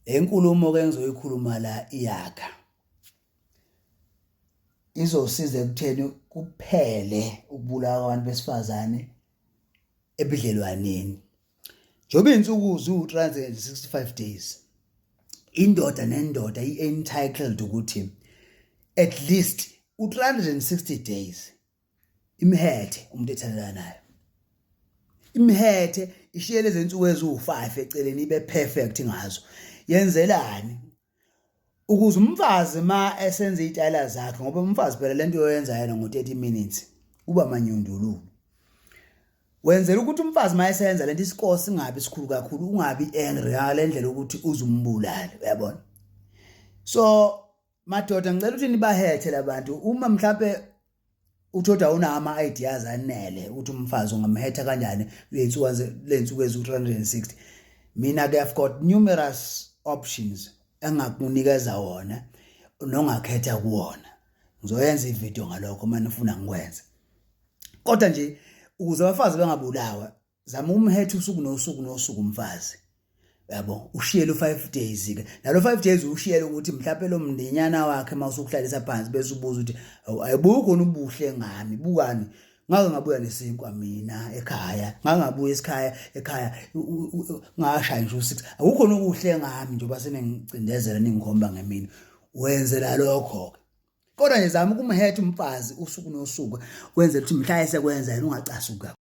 le nkulumo ke ngizoyikhuluma la iyakha izosiza ekutheni kuphele ukubulawa kwabantu besifazane ebudlelwaneni njengoba iy'nsuku ziwu-365 days indoda nendoda i-entitled ukuthi at least u-360 days imhethe umuntu ethandana nayo imhethe ishiye lezi nsuku eziwu-5 eceleni ibe perfect ngazo yenzelani ukuze umfazi ma esenza iy'tayela zakhe ngoba umfazi phela le nto yoyenza yena ngo-30 minutes uba manyundululu wenzela ukuthi umfazi uma eseyenza lento isikole singabi sikhulu kakhulu ungabi angry ngale ndlela ukuthi uzumbulale uyabona so madoda ngicela ukuthi nibahethe labantu uma mhlambe uthoda unama ideas anele ukuthi umfazi ungamhetha kanjani lensuku lensuku ezu 360 mina ke i've got numerous options engakunikeza wona nongakhetha kuwona ngizoyenza ivideo ngalokho uma nifuna ngikwenze kodwa nje ukuze abafazi bengabulawa zama umhethe usuku nosuku nosuku mfazi yabo ushiyele u5 days ke nalo 5 days ushiyele ukuthi mhlawumbe lo mndinyana wakhe mawusukuhlalisa phansi bese ubuza ukuthi ayibukho ubuhle ngami bukani ngake ngabuya nesinkwa mina ekhaya ngake ngabuya esikhaya ekhaya ngashaya nje u6 akukho nokuhle ngami nje basenengicindezela ningikhomba ngemini wenzela lokho ke kodwa nje zama ukumhetha umfazi usuku nosuku wenzela ukuthi mhla esekwenza yena ungacasuka